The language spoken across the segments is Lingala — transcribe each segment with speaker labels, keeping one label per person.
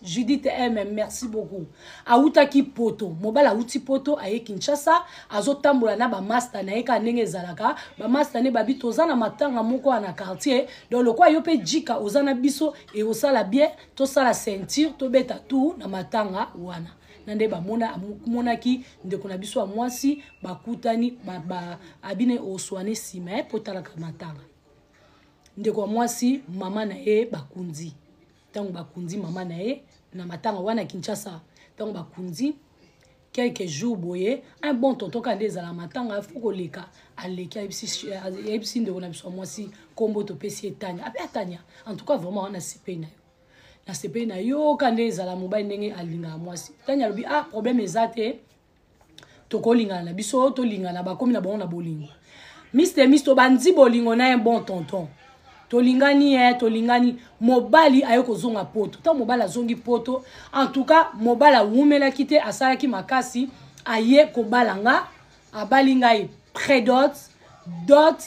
Speaker 1: judith m merci beaucoup awutaki poto mobali awuti poto aye kinshasa azotambola na bamasta na ye kaka ndenge ezalaka bamasta nde babi toza na matanga moko ya na quartier donc lokola yo mpe jika oza na biso ekosala bien tosala ceinture tobeta tour na matanga wana na nde bamonaki ndeko na biso ya mwasi bakutani abine oswane nsima ye mpo talaka matanga ndeko ya mwasi mama na ye bakundi ntango bakundi mama na ye na matanga wana kinshasa ntango bakundi quelques jours boye un bon tonton kaka nde ezala matanga afo koleka aleki ayebisi ndeko na biso ya mwasi nkombo topesi ye tania ape atania en tout cas vraiment wana sepei na yo nasepeli na yo ka nde ezala mobali ndenge alingaka mwasi tani alobi ah problème eza te tokolingana na biso tolingana bakomi na bango na bolingo mister mis tobandi bolingo na ye bon tonton tolingani ye eh, tolingani mobali aye kozonga poto ntango mobali azongi poto en tout cas mobali awumelaki te asalaki makasi aye kobala nga abali ngai predot dot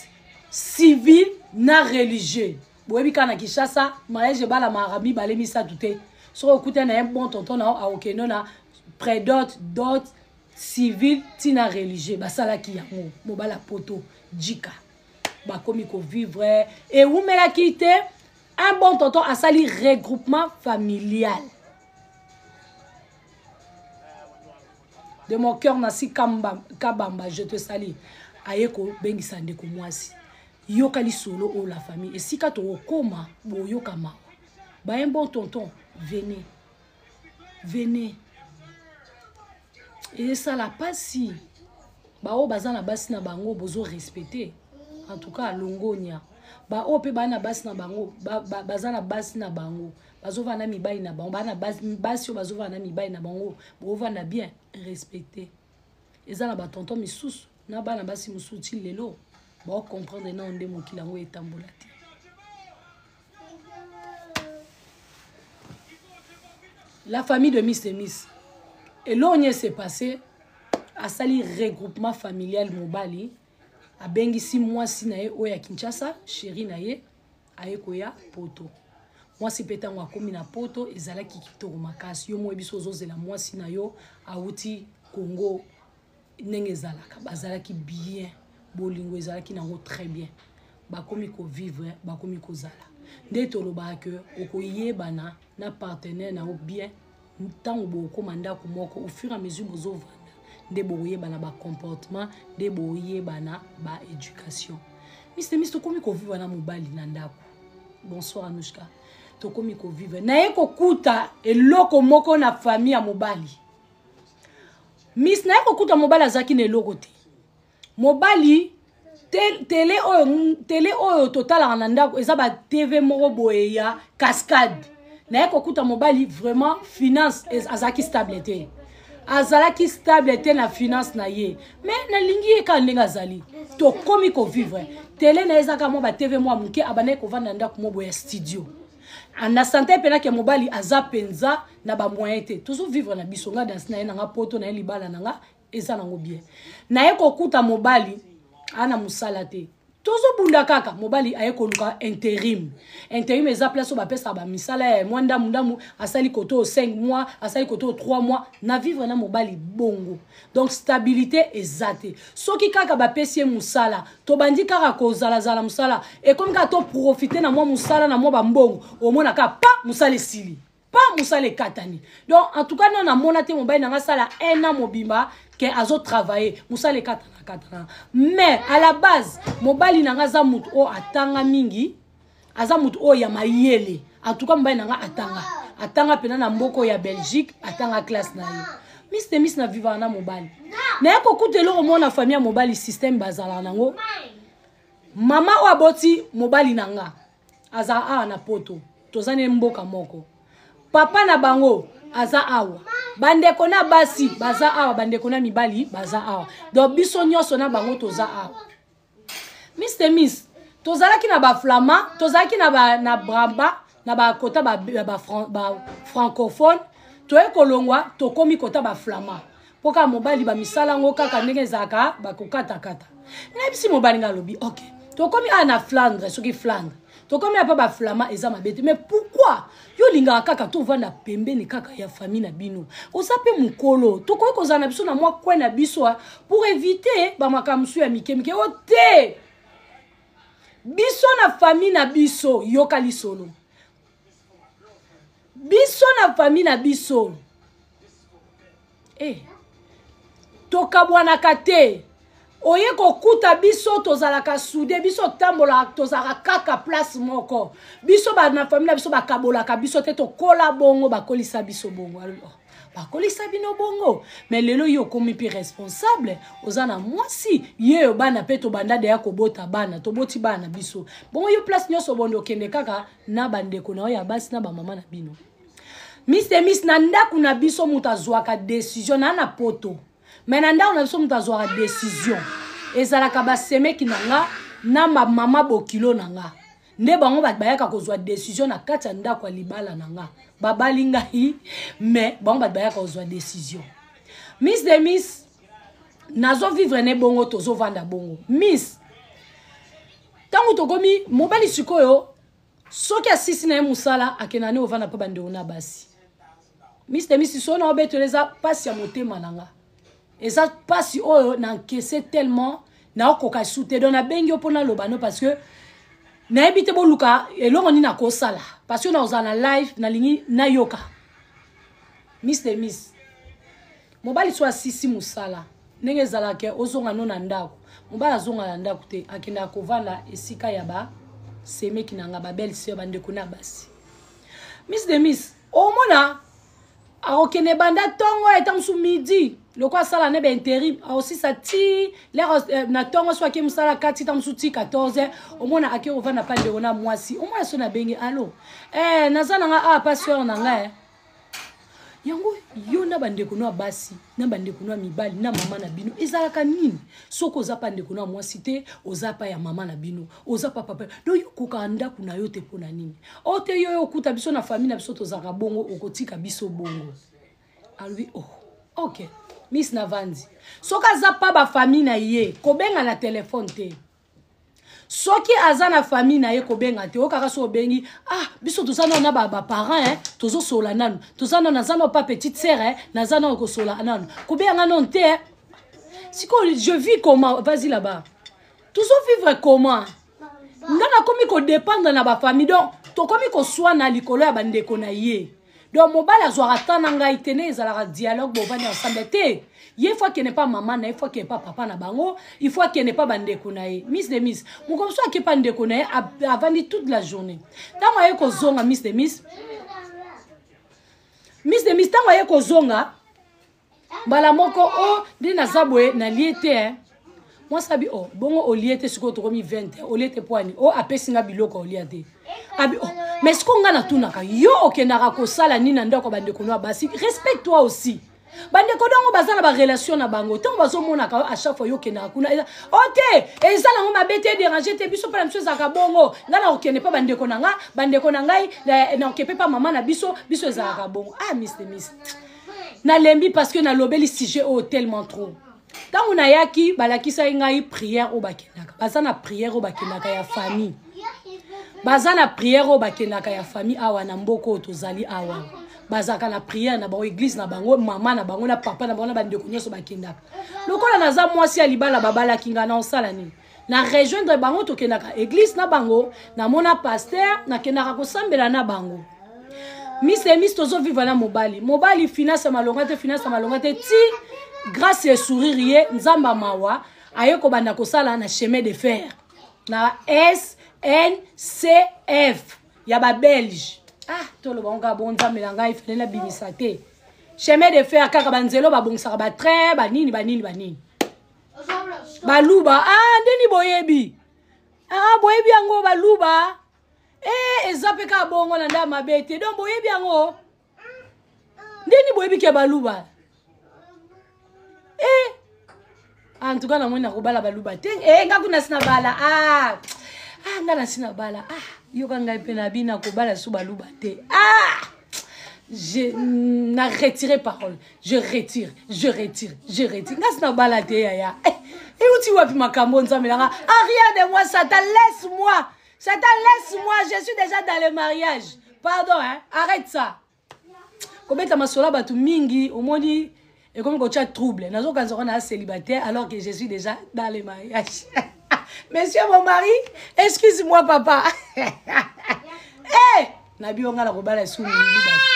Speaker 1: civil na religieux boyebi kaka na kinshasa mariage ebalamaka mibale misato te soki okuta na ye bon tonton nao akokende na predot dot civil ntina religieux basalaki yango mobali ya poto jika bakomi kovivre ewumelaki te un bon tonton asali regroupement familial de mon cœur nasi kabamba je te sali aye kobengisa ndeko mwasi yoka lisolo oyo la famille esika tokokoma boyoka mawa bayen bon tonton vene vene esala mpasi baoyo baza na basi na bango bozo respecte en tout cas longonia baoyo mpe baa na basi na bango baza na basi na bango bazovanda na mibali na bango baa na basi oyo bazovanda na mibali na bango bovanda bien respecte eza na batonto misusu na bana basi mosusu ti lelo baocomprendre nao nde mokili yango etambola te la famille de miss denis eloko nie se passe asali regroupement familial mobali abengisi mwasi na ye oyo ya kinshasa sheri na ye aye koya poto mwasi mpe ntango akomi na poto ezalaki kitoko makasi yo moi biso ozozela mwasi na yo awuti congo ndenge ezalaka bazalaki bien bolingo ezalaki nango très bien bakomi kovivre bakomi kozala nde tolobaka ke okoyebana na partenaire na yo bien ntango bokokoma ndako moko au fur et à mesure bozovanda nde bokoyebana bacomportement nde boyebana baéducation miste miste tokomi kovivre na mobali na ndako bonsoir anushka tokomi kovivre naye kokuta eloko moko na famille ya mobali mis naye kokuta mobali azalaki na eloko te mobali tele oyo tele oyo totalaka na ndako eza ba tv moko boye ya cascade naye kokuta mobali vraiment finance azalaki stable te azalaki stable te na finance na ye me nalingi ye kaka ndenge azali tokomi kovivre tele na ye ezaka mwa batv mwa moke abandaki kovanda na ndako moboye ya studio ah, na sante mpena ke mobali aza mpenza na bamoyen te tozovivre na biso nga dansi na ye nanga poto na ye libala na nga eza nango bien naye kokuta mobali ana mosala te tozobunda kaka mobali aye koluka interim interim eza place oyo bapesaka bamisala ya mwa ndamu ndamu asali koto 5 mois asali koto 3 mois na vivre na mobali bongo donc stabilité eza te soki kaka bapesi ye mosala tobandi kaka kozalazala mosala ekomi kaka toprofite na mwa mosala na mwa bambongo omona kaka pa mosala esili pa mosala ekatani donc en tout cas nano namona te mobali na ngai asala un an mobimba ke azotravaille mosala ekatana katana mais à la base mobali na ngai aza moto oyo atanga mingi aza moto oyo ya mayele en tout cas mobali na ngai atanga atanga mpena na mboka oyo ya belgique atanga classe na ye mis te mis na vivaka na mobali naye kokuta eloko moko na famille ya mobali système bazalaka nango mama oyo aboti mobali na ngai aza awa na poto toza ne mboka moko papa na bango aza awa bandeko na basi baza awa bandeko na mibali baza awa donc biso nyonso na bango toza awa mr miss tozalaki na baflamand tozalaki na, ba, na braba na bakota bafrancophone ba, ba, ba toye kolongwa tokomi kota baflamand mpo kaka mobali bamisala yango kaka ndenge ezalaka bakokatakata nayebisi mobali nga alobi ok tokomi awa na flandre soki flandre tokomi apa baflama eza mabe te mais pourkui yo olingaka kaka tovanda pembeni kaka ya famille na bino oza mpe mokolo tokoki kozala na biso na mwa kwe na biso pour éviter bamakambo mosusu ya mikemike o te biso na famille na biso yoka lisolo biso na fami na biso eh, tokabwanaka te oye kokuta biso tozalaka sude biso otambolaka tozalaka kaka place moko biso na fami na biso bakabolaka biso te tokola bongo bakolisa biso bongo bakolisa bino bongo me lelo yo okomi mpe responsable oza na mwasi ye yo bana mpe tobanda deya kobota bana toboti bana biso bongo yo place nyonso obonde okende kaka na bandeko na yo ya basi na bamama na bino mis de mis na ndako na biso moto azwaka desizio na na poto me na ndako na biso moto azwaka desizio ezalaka basemeki na nga na bamama bokilo na nga nde bango bato bayaka kozwa desizio na kati ya ndako ya libala na nga babali ngai mais bango bato bayaka kozwa desizio miss de miss nazovivre ne bongo tozovanda bongo miss ntango tokomi mobali sikoyo soki asisi na ye mosala akenda ne ovanda mpe bandeko na basi Mister Misi sona obetela eza pasi ya motema na nga. Eza pasi oyo na encaisser tellement na okoka sous te donc na bengi yo pona loba no parce que nayebi te boluka eloko nini akosala parce que na ozala na live nalingi nayoka. Mister Miss mobali so asisi mosala ndenge ezalaka ozonga no na ndako mobali azonga na ndako te akendaka kovanda esika ya basemeki na nga babelle sœur bandeko na basi miss de miss omona akokende banda ntongo ya ntango mosusu midi loko asala ne bainterim aosisa ti lere eh, na ntongo so ake mosala kati ntango mosusu ti 14 omona ake kovanda mpa ndeko na mwasi omona so na benge alo eh, naza na nga awa ah, pa seur na nga eh. yango yo na bandeko no ya basi na bandeko na mibali na mama na bino ezalaka nini soki oza pa ndeko na mwasi te oza pa ya mama na bino oza pa papa do yo kokaka ndako na yo te mpo na nini o te yo yo okuta biso na famille na biso tozalaka bongo okotika biso bongo alobi oh ok miss na vanzi soki aza pa bafamille na ye kobenga na telefone te soki aza na famille na ye kobenga te okaka so obengi ah biso toza nano na baparent eh, tozosola nano toza nano naza nao pa petite sere eh, naza nao kosola nano kobenga nga nano te eh. sikoyo je vis comment vas-y là-bas tozovivre comment nga nakomi kodépendre na bafamille donc tokomi koswana likolo ya bandeko na ye donc mobali azwaka temps na ngai te ne ezalaka dialogue bovandi ensemble te ye faut akende pa mama na ye faut akende pa papa na bango il faut akende pa bandeko na ye miss de miss mokolo mosusu ake pa ndeko na ye avandi toute la journée ntango aye kozonga miss de miss miss de miss ntango aye kozonga mbala moko o oh, nde naza boye nalie te eh. mwasi abi o oh, bongo olie te sikoyo tokomi 20 eh. olie te poani o oh, apesi nga biloko olia te abi o mais sikoyo nga natunaka yo okendaka kosala nini na ndako ya bandeko no ya basi respect toi aussi bandeko dongo baza na barelation na bango ntango bazomonaka yo achaque fois yokendaka kuna eza o oh, te eza nango mabe te dérange te biso mpe na biso ezalaka bongo ngai nakokende mpe bandeko na ngai bandeko na ngai nakoke mpe mpa mama na biso biso ezalaka bongo ah mis de mis nalembi parce que nalobeli sujet oyo tellement trop ntango nayaki balakisaki ngai prière oyo bakendaka baza na prière oyo bakendaka ya famille baza na prière oyo bakendaka ya famille awa na mboka oyo tozali awa bazalaka na prière na bango église na bango mama na bango na papa na bango na bandeko nyonso bakendaka lokola naza mwasi ya libala babalaki ngai na osala nini na rejoindre bango tokendaka eglise na bango namona paster nakendaka kosambela na bango miss emis tozoviva na mobali mobali finance ya malonga te finance ya malonga te ti grâce ya sourire ye nzambe mawa aye kobanda kosala na chemin de fer na sncf ya babelge ah toloba ngo kaka bonzambe na ngai fele nabimisa te chemin de fer kaka banzelo babongisaka batrain banini banini banini baluba ah ndeni boyebi ah boyebi yango baluba eh eza mpe kaka bongo na nda mabe te donc boyebi yango ndeni boyebi ke baluba eh en tout cas namoni nakobala baluba te eh nga kuna sina bala ah ah nga na sina bala ah yoka ngai mpe na bina kobala su baluba te ah je na retire parole je retire je retire je retire ngasi na bala te yaya eh, euti wapi makambo nzambe nanga aria de moi satan laisse moi satan laisse moi je suis déjà dans le mariage pardon hein? arrête ça kobeta masolo ya bato mingi omoni ekomi kotya trouble nazokanisa kona célibataire alors que je suis déjà dans le mariage monsieur mon mari excuse moi papa hey! Eh! na bino ngai nakobala esu mingi bato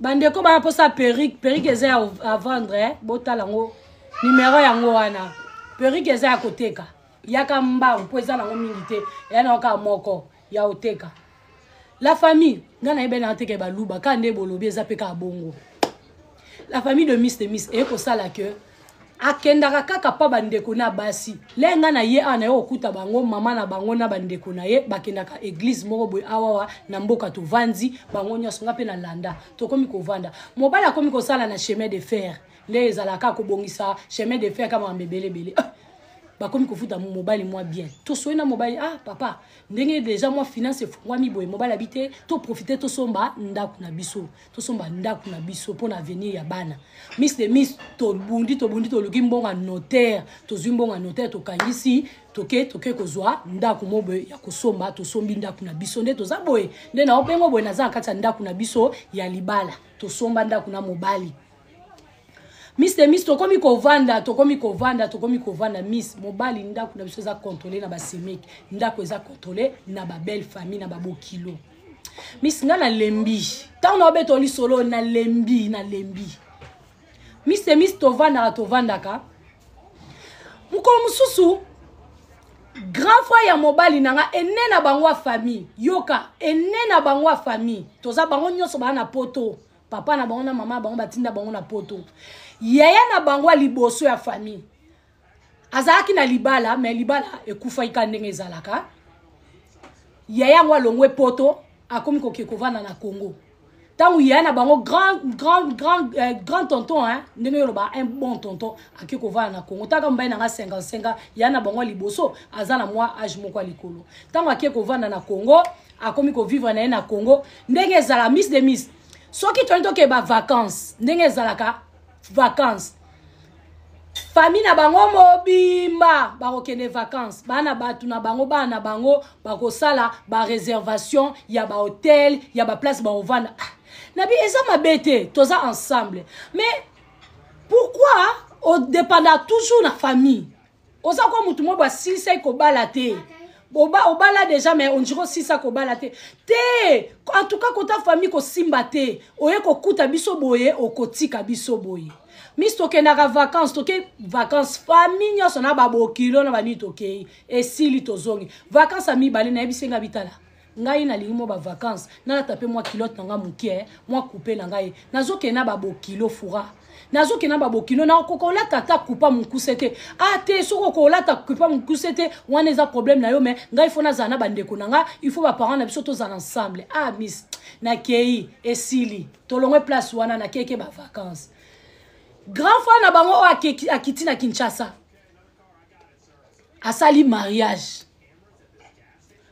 Speaker 1: bandeko baya mposa perike perike eza ya avendre eh? botala yango nimero yango wana perike eza ya koteka yaka mbangu mpo eza nango mingi te eya nango kaka moko ya oteka la famille nga nayebi nanga teke baluba kaka nde bolobi eza mpe kaka bongo la famille de miss de miss eye kosala que akendaka kaka mpa bandeko na basi le ngai na ye awa naye kokuta bango mama na bango na bandeko na ye bakendaka eglize moko boye awawa na mboka tovandi bango nyonso ngai mpe na landa tokomi kovanda mobali akomi kosala na chemin de fer nde ezalaka kobongisa chemin de fer ka makambo ebele ebele ah, bakomi kofuta mobali mwa bien tosoi na mobali ah papa ndenge deja mwa finance efungwami boye mobali abi te toprofite tosomba ndako na biso tosomba ndako na biso mpo na avenir ya bana miss de miss tobundi tobundi toluki mbongo ya notaire tozwi mbongo ya notaire tokangisi toke toke kozwa ndako mo boye ya kosomba tosombi ndako na biso nde toza boye nde naobengo boye naza na kati ya ndako na biso ya libala tosomba ndako na mobali miss de miss tokomi kovanda tokomi kovanda tokomi kovanda miss mobali ndako na biso eza controle na basemeke ndako eza controle na babelle famille na babokilo miss nga nalembi ntango na obeta lisolo nalembi nalembi miss de miss tovandaka tovandaka mokolo mosusu grand frère ya mobali na nga ene na bango ya famille yoka ene na bango ya famille toza bango nyonso baa na poto papa na bango na mama na bango batinda bango na poto yaya na bango ya liboso ya famille azalaki na libala me libala ekufaki ka ndenge ezalaka yaya yango alongwe poto akomi koke kovanda na congo ntango yaya na bango grand, grand, grand, eh, grand tonton hein, ndenge yoloba un bon tonton ake kovanda na congo ntaka mobali na nga 55 yaya na bango ya liboso aza na mwa age moko ya likolo ntango ake kovanda na congo akomi ko vivre na ye na congo ndenge ezala miss de miss soki toyei tokee bavacance ndenge ezalaka vacance famille na bango mobimba bakokende vacances bana bato na bango bana na bango bakosala bareservation ya bahotel ya baplace bakovanda ah, nabi eza mabe te toza ensemble mais pourquoi odependa toujours na famille oza kwa motu moko basilisaki kobala te oba obala deja mais ondire osisa kobala te te en tout cas kota famille kosimba te oye kokuta biso boye okotika biso boye misi tokendaka vacance toke vacance famille nyonso na babokilo na banini tokei esili tozongi vacance ya mibale nayebisi nga bitala ngai nalingi mwa bavacance nalata mpe mwa kilote na ngai moke eh, mwa kupe na ngai nazokende na babokilo fura nazokende na babokilo nakokoka olata ata kupa mokuse te a ah, te soki okolata kupa mokuse te wana eza problème na yo me ngai fo nazala na bandeko na ngai il faut baparent na biso tozala ensemble ah miss nakei esili tolongwe place wana nakeke bavacance grand frère na bango oyo akiti na kinshasa asali mariage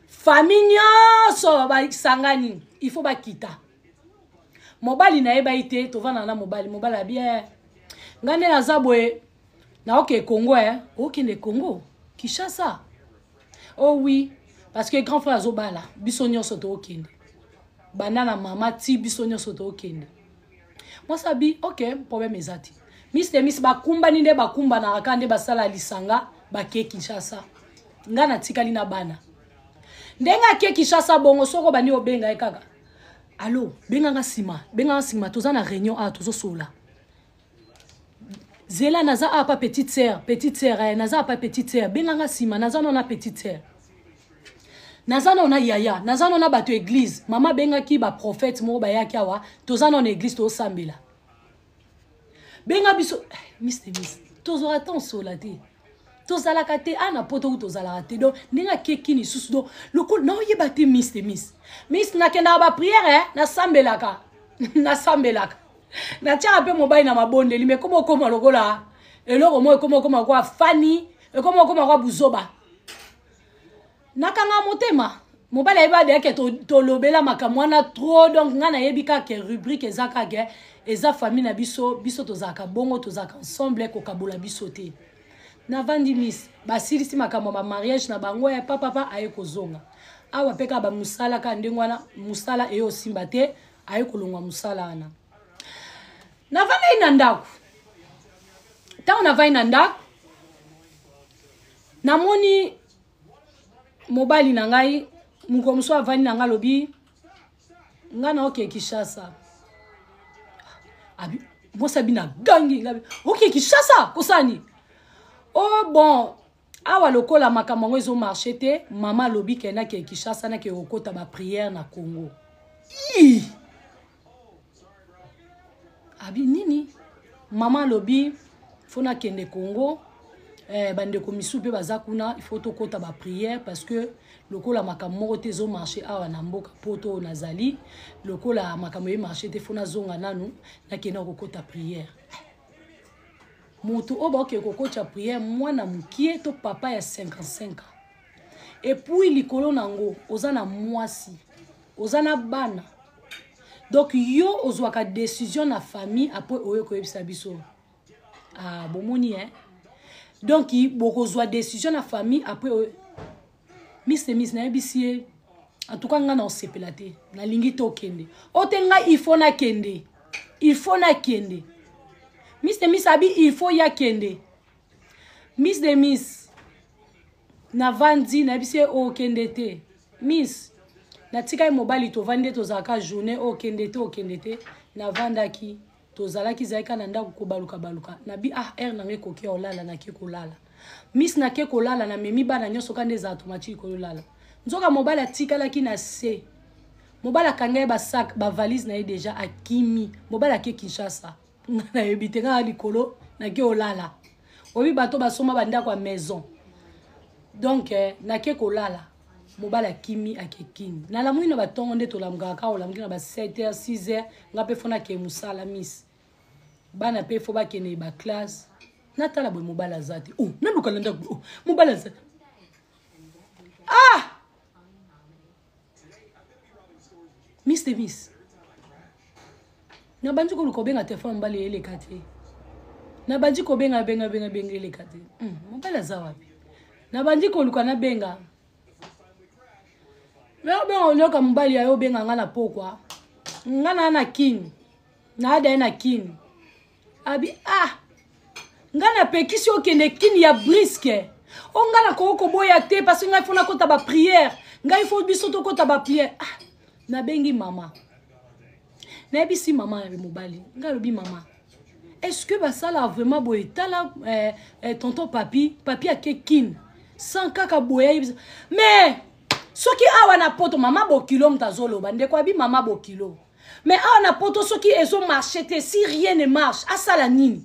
Speaker 1: famille nyonso basangani il faut bakita mobali na ye bayi te tovandana na mobali mobali ya bien ngai nde naza boye naoke congo e okende congo kinshasa o oh wi parce que grand frère azobala biso nyonso tookende banda na mama ti biso nyonso tookende mwasi abi ok problème eza te miss de miss bakumbani nde bakumbanaka kaka nde basala lisanga bake kinshasa nga natikali na bana ndenge ake kinshasa bongo soko bandi obenga ye kaka alo benganga nsima benganga nsima toza na réunion awa tozosolola zela naza awa pa petite sœur petite sœur eh, naza awa pa petite sœur benga nga nsima naza nao na petite sœur naza nao na yaya naza nao na bato ya eglize mama abengaki baprofete moko bayaki awa toza nao na eglize toosambela benga biso eh, mister mis tozwaka temps osola te tozalaka te a na poto kutu tozalaka te donc ndenge akeki lisusu donc lokola naoyeba te miss te miss miss nakendaka bapriere eh? nasambelaka nasambelaka natyaka mpe mobali na mabondeli me ekoma okoma lokola eloko moko ekoma okoma kwa fani ekoma okoma kwa buzoba nakanga motema mobali ayebi adeya ke tolobela makambo wana trop donc ngai nayebi kaka ke rubrique eza kaka eza famille na biso biso tozalaka bongo tozalaka ensemble kokabola biso te navandi miss basilisi makambo ya bamariage na bango ya papapa aye kozonga awa mpe kaka bamosala kaka ndenge wana mosala eye osimba te aye kolongwa mosala wana navandaki na ndako ntango navandi na ndako namoni mobali na ngai mokolo mosusu avandi na ngai alobi ngai na oke kishasa mwasi abi na gangi oke kishasa kosala nini o oh, bon awa lokola makambo yango ezomarche te mama alobi ke nake kishasa nake kokota bapriere na congo ii abi nini mama alobi fo nakende congo eh, bandeko misusu mpe baza kuna il faut tokɔta baprière parce que lokola makambo moko te ezomarche awa na mboka poto oyo nazali lokola makambo emarche te fo nazonga nanu nakenda kokɔta prière moto oyo baokee kokotya prière mwana mokie to papa ya 55 ans epuis likolo na yango oza na mwasi oza na bana donc yo ozwaka décision na famille apres oye koyebisa biso ah, bomoni hein donc bokozwa décision na famille après oye mister mis nayebisi ye en tout cas ngai na osepela te nalingi te okende o te ngai il faut nakende il faut nakende mister mis abi il faut ye akende miss de miss navandi nayebisi ye okende te miss natikaki mobali tovandi nde tozalaka journée okende te okende te navandaki tozalaki ezalaki kaka na ndako kobaluka baluka nabi ah heure nanga ekoki ya olala nake kolala miss nake kolala namemi bana nyonso kaka nde ezala tomatiki koyolala nzoka mobali atikalaki na se mobali akanga ye basak bavalise na ye deja akimi mobali ake kinshasa nga nayebi te nga likolo nake olala oyebi bato basomba bandako ya maison donc eh, nake kolala mobali akimi akekini nalamwi na batongo nde tolamukaka kaka olamuki na ba 7 heure 6 heure nga mpe fo nakee mosala miss bana mpe fo bakende baklasse natala boye mobali aza te o oh, naluka na ndako o oh, mobali aza ah miss de miss nabandi koluka obenga telefone mobali eleka te nabandi kobenga benga benga benga eleka te hmm, mobali aza wapi nabandi koluka nabenga me obenga olioka mobali yayo obenga nga na pokwa nga naa na kin naada ye na kin abi ah ngai napekisi okende kini ya briske o ngai nakoki koboya te parce ngai fo nakota bapriere ngai fo biso tokota bapriere ah, nabengi mama nayebisi mama ya mobali ngai alobi mama est ce que basala vraiment boye tala eh, eh, tonton papi papi ake kine sans kaka boye ayebisa mais soki awa na poto mama bokilo moto azoloba ndeko abi mama bokilo mais awa na poto soki ezo marche te si rien ne marche asala nini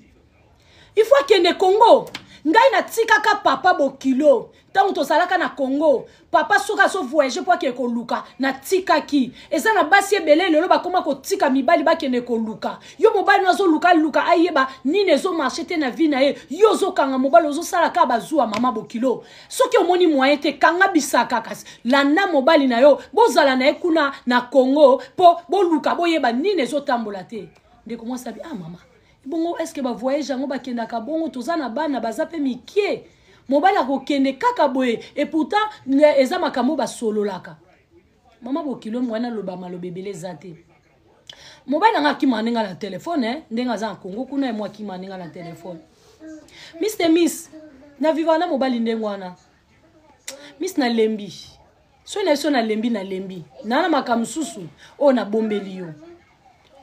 Speaker 1: il faut akende congo ngai natikaka papa bokilo ntango tozalaka na congo papa soki azovoyage mpo akende koluka natikaki eza na basi ebele lelo bakoma kotika mibali bakende koluka yo mobali no azoluka luka ayeba nini ezomarche te na vie na ye yo ozokanga mobali ozosala kaka bazuwa mama bokilo soki omoni moyen te kanga bisaka kasi landa mobali na yo bozala na ye kuna na congo mpo boluka boyeba nini ezotambola te ndeko mwasi abi ah mama bongo estce bavoyage yango bakendaka bongo toza na bana baza mpe mikie mobali akokende kaka boye epoutant eza makambo basololaka mama bokilo mwana aloba maloba ebele eza te mobali na ngai akima ndenge na telefone eh, ndenge aza na kongo kuna emo akima ndenge na telefone miss te miss na viva na mobali ndenge wana miss nalembi soki na biso nalembi nalembi naa na makambo mosusu oyo nabombeli yo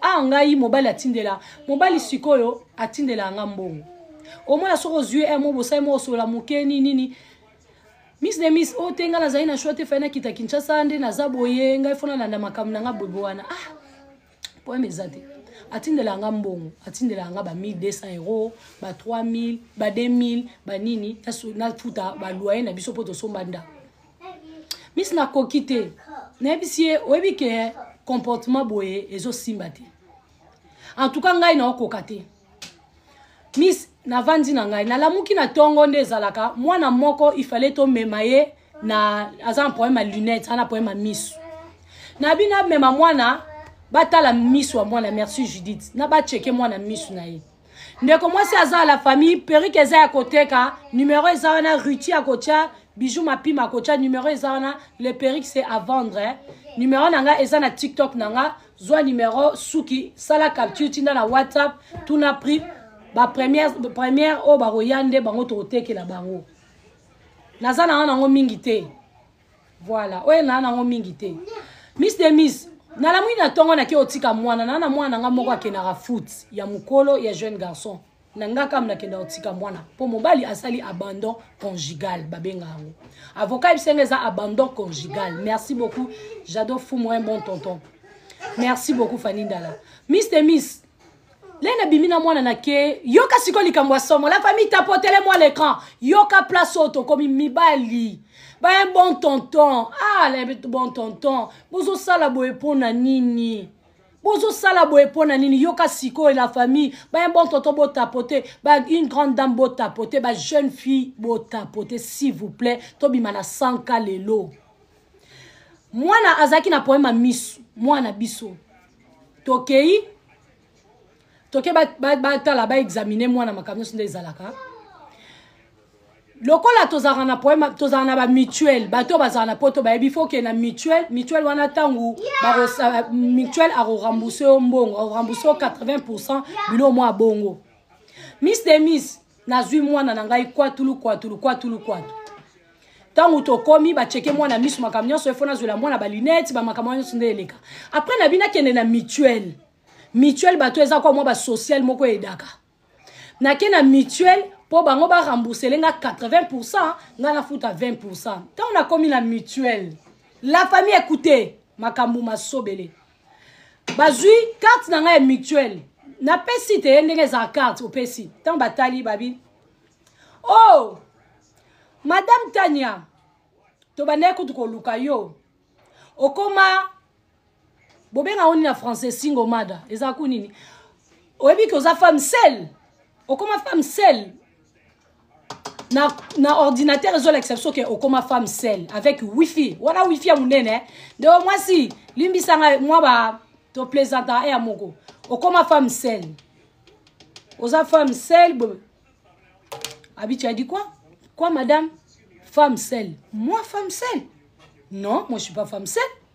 Speaker 1: a ngai mobali atindela mobali sikoyo atindela nga mbongo omona soki ozwi emo bosali moko osola moke nini nini miss de miss oyo oh, te ngai nazali na shwa te fai nakita kinshasa nde naza boye ngai fo nalanda makambo na ngai boyebe wana ah poeme eza te atindelaka nga mbongo atindelaka nga ba 1200 euro ba 3000 ba 2000 banini nafuta baloye na biso mpo tosomba ndako misi nakoki te nayebisi ye oyebi ke comportement boye ezosimba te en tout cas ngai naokoka te miss navandi na ngai nalamuki na ntongo nde ezalaka mwana moko ifale tomema ye na aza na problème ya lunette aza na problème ya misu na bino amema mwana batala misu ya mwana merci judith na bacheke mwana misu na ye ndeko mwasi aza ya la famille perike eza ya koteka numero eza wana ruti akotya bijou mapima akotya numero eza wana le perike se à vendre numero na nga eza na tiktok na nga zwa numero suki sala capture tinda na whatsapp tuna prix bapremière première oyo bakoya nde bango tokotekela bango naza na wana yango mingi te voilà oyo naa nango mingi te miss de miss nalamwi na ntongo nake otika mwana naa na mwana na ngai moko akendaka foot ya mokolo ya jeune garçon na nga kam nakenda kotika mwana mpo mobali asali abandon conjugal babenga yango avocat yebisa nga eza abandon conjugal merci beaucoup jado fumo un bon tonton merci beaucoup fani ndala miste miss le nabimi na mwana na ke yoka sikoyo likambo ya somo la famille tapotele mwa l'écran yoka place oyo tokomi mibali baye bon tonton ah bon tonton bozosala boye mpo na nini bozosala boye mpo na nini yoka sikoyo la famille baya bontoto botapote ba une grande dame botapote ba jeune fille botapote s'il vous plaît tobima na sanka lelo mwana azalaki na poema misu mwana biso tokei toke batala ba, ba, ba baexamine mwana makambo nyonso nde ezalaka lokola tozalaka na problème tozalaka na ba mutuelle bato oyo bazalaka na poto bayebi faut ke na mutuelle mutuelle wana ntango euh, mutuelle akorembourse yo mbongo akorembourse yo 80 pourcent bilo mwa bongo miss de miss nazwi mwana na ngai kwatulu kwatulu kwatulu kwatu ntango tokomi bacheke mwana miso makambo nyonso efo nazwela mwana balunete bamakambo nyonso nde eleka apres nabi nakende na mutuelle mutuelle bato eza kwa mwa basociale moko edaka nake na mutuelle mpo bango ba remboursele nga 80 pourcent nga nafuta 20 pourcent ntango nakomi na mutuelle la famille écoute makambo masobele bazwi carte na ngai ya mutuelle napesi te ye ndenge ezala carte opesi ntango batali babi o oh, madame tania tobandaki kutu koluka yo okoma bobenga oni na français singo mada eza ku nini oyebi ke oza femme sel okoma femme sel na, na ordinateur ezolakisa biso ke okoma femme sel avec wifi wana wifi ya monene eh? nde o mwasi limbisa ngai mwa ba toplaisanta eya moko okoma femme sel oza femme sel abi tu as dit quoi quoi madame femme sel moi femme sel non moi je suis pas femme sel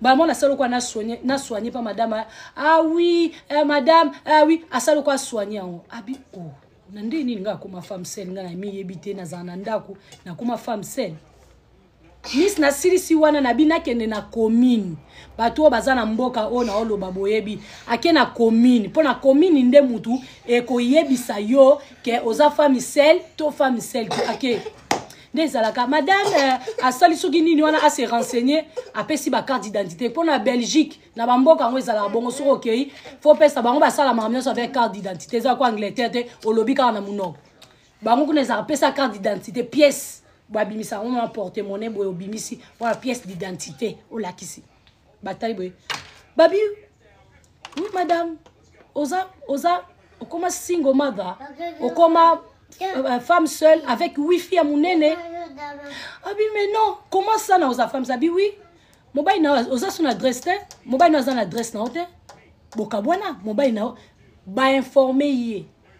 Speaker 1: mbala mwana asali lokola na soigne mpa madame ah oui eh, madame ah oui asali lokola soigne yango abi o oh, na ndenge nini ngai akoma femme sel ngai na miyebi te nazala na ndako nakoma femme sel miss nasilisi wana na bino akende na commune bato oyo baza na mboka oyo naoloba boyebi ake na commune mpo na commune nde motu ekoyebisa yo ke oza famisele to famisele te ake nde ezalaka madame euh, asali soki nini wana ase renseigner apesi bacarte d'identité mpo na belgique na bamboka yango ezalaka bongo soki okei fo pesa bango basalamaka nyonso avec carte d'identité eza kwa angleterre te olobi kaka na monoko bango kuna ezalaka pesa carte d'identité pièce babimisa yango na porte monnaie boye obimisi wana pièce d'identité olakisi batali boye babi oui madame oza oza okoma single mother okoma euh, femme seule avec wifi ya monene abi ah mais non comment ça na oza femme ça abi oui mobali na oza so na adresse te mobali na aza na adresse na yo te bokabwana mobali na yo bainforme ye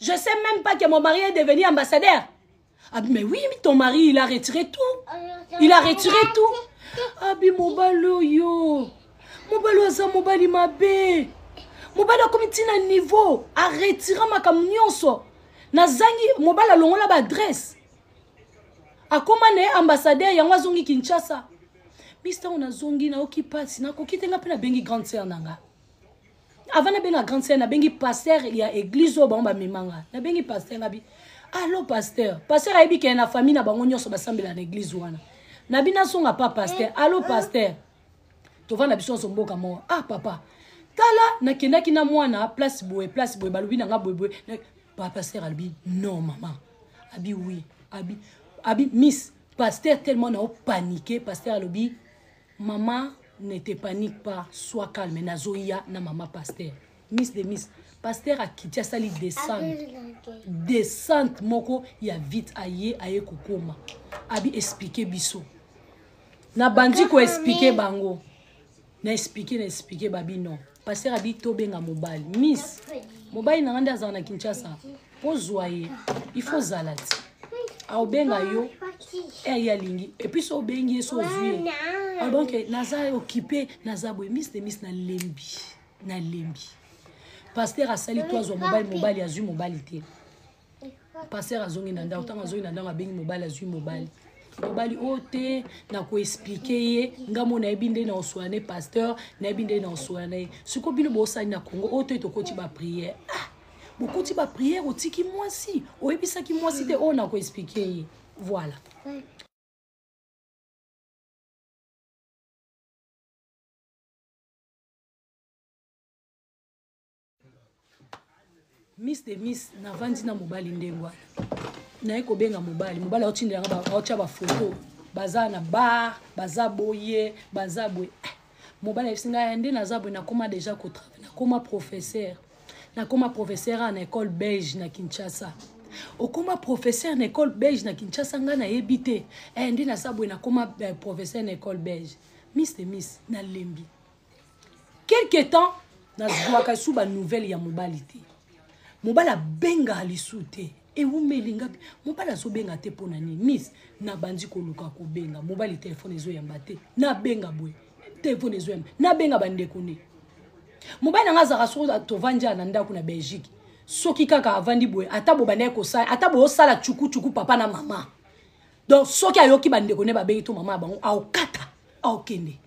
Speaker 1: Je sais même pas que mon mari est devenu ambassadeur. Ah, mais oui, mais ton mari, il a retiré tout. Il a retiré tout. Abi mobalo yo. Mobalo aza mobali mabe. Mobalo akomi tina niveau. A retira makambo nyonso. Nazangi mobalo alongola ba adresse. Akoma na ye ambassadeur yango azongi Kinshasa. Mister on azongi na oki pasi nakoki te nga mpe nabengi grande sœur na nga. avant nabenga grande sœur nabengi pasteur ya église oyo bango bamema nga nabengi pasteur ngabi allo pasteur pasteur ayebi kee na famille na bango nyonso basambela na église wana nabi nazonga pa pasteur allo pasteur tovanda biso nyonso mboka moko ah papa tala nakendaki na mwana place boye place boye balobi na nga boyeboye pa pasteur alobi non mama abi oui abi abi miss pasteur tellement nao panike pasteur alobi Maman ne te panique pas, sois calme nazoya na maman pasteur. Miss de Miss, pasteur akiti asali descente descente moko ya vite aye aye kokoma abi explique biso nabandi koexplike bango na explike na explike babi non paster abi tobenga mobali miss mobali na nga nde azala na kinshasa mpo zwa ye ifo ozala ti aobenga yo eye alingi epuis so obengi ye so ozwi ye ah, donc naza okipe naza boye miss de miss nalembi nalembi paster asali to azwa mobali mobali azwi mobali te pasteur azongi na ndako ntango azongi na ndako abengi mobali azwi mobali mobali oyo oh, te nakoexplike ye nga mo nayebi nde na oswana ne pasteur nayebi nde na oswana na ye sikoyo bino bosali na congo oyo oh, te tokoti bapriere ah, bokoti bapriere otiki mwasi oyebisaki mwasi te oyo oh, nakoexplike ye voilà miss de miss navandi na mobali ndenge wana naye kobenga mobali mobali aotindelanga aotya bafoto baza na bar baza boye baza boye eh, mobali ayebisi ngai nde naza boye nakoma deja kotravaille nakoma professeur nakoma professeur a na école belge na kinshasa okoma professeur na école belge na kinshasa ngai nayebi te eh, nde naza boye nakoma eh, professeur na école belge miss de miss nalembi quelque temps nazwaka lisusu banouvelle ya mobali te mobali abengaka lisusu te ewumeli ngapi mobali azobenga te mpo na nini mis nabandi koluka kobenga mobali telefone ezoyamba te nabenga boye telefone ezoyamba nabenga bandeko ne mobali na ngai azalaka soko tovandi na ndako na belgique soki kaka avandi boye ata bobanda ye kosala ata boosala cukucuku papa na mama donc soki ayoki bandeko ne babengi to mama ya bango aokata aokende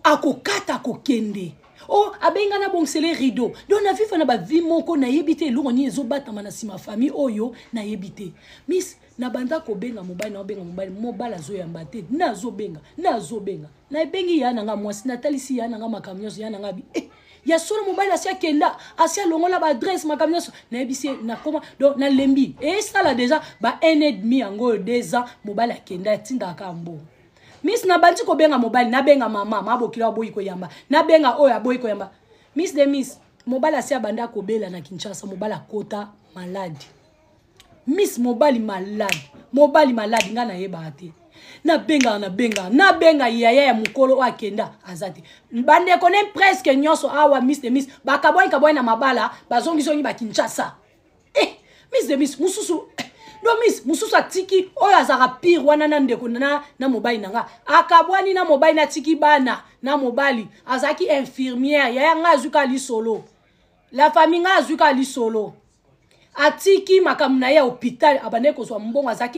Speaker 1: akokata akokende o oh, abengi nga nabongisele rideau donc na viva na bavi moko nayebi te eloko nini ezobatama na nsima famille oyo nayebi te miss nabanda kobenga mobali naobenga mobali mobali azoyamba te nazobenga nazobenga nabengi ya na nga mwasi natalisi ya na nga makambo nyonso ya na nga bi eh, ya solo mobali asi akenda asi alongola baadresse makambo nyonso nayebisi ye nakoma donc nalembi esala deja ba un et demi yango oyo deux ans mobali akenda atindaka kaka mbongo miss nabandi kobenga mobali nabenga mama ma bokila aboyi koyamba nabenga oyo aboyi koyamba miss de miss mobali asi abandi akobela na kinshasa mobali akota maladi miss mobali maladi mobali maladi ngai nayebaka te nabengaka nabengaka nabenga yaya ya mokolo oyo akenda aza te bandeko ne presque nyonso awa miss de miss bakabwani kabwani na mabala bazongizongi bakinshasa eh, miss de miss mosusu eh, do miss mosusu atiki oyo azalaka pire wana na ndeko na, na mobali na nga akabwani na mobali natiki bana na mobali azalaki infirmière yaya ngai azwi kaka lisolo la famille ngai azwi kaka lisolo atiki makambo na ye ya hôpital abandaki kozwa mbongo azalaki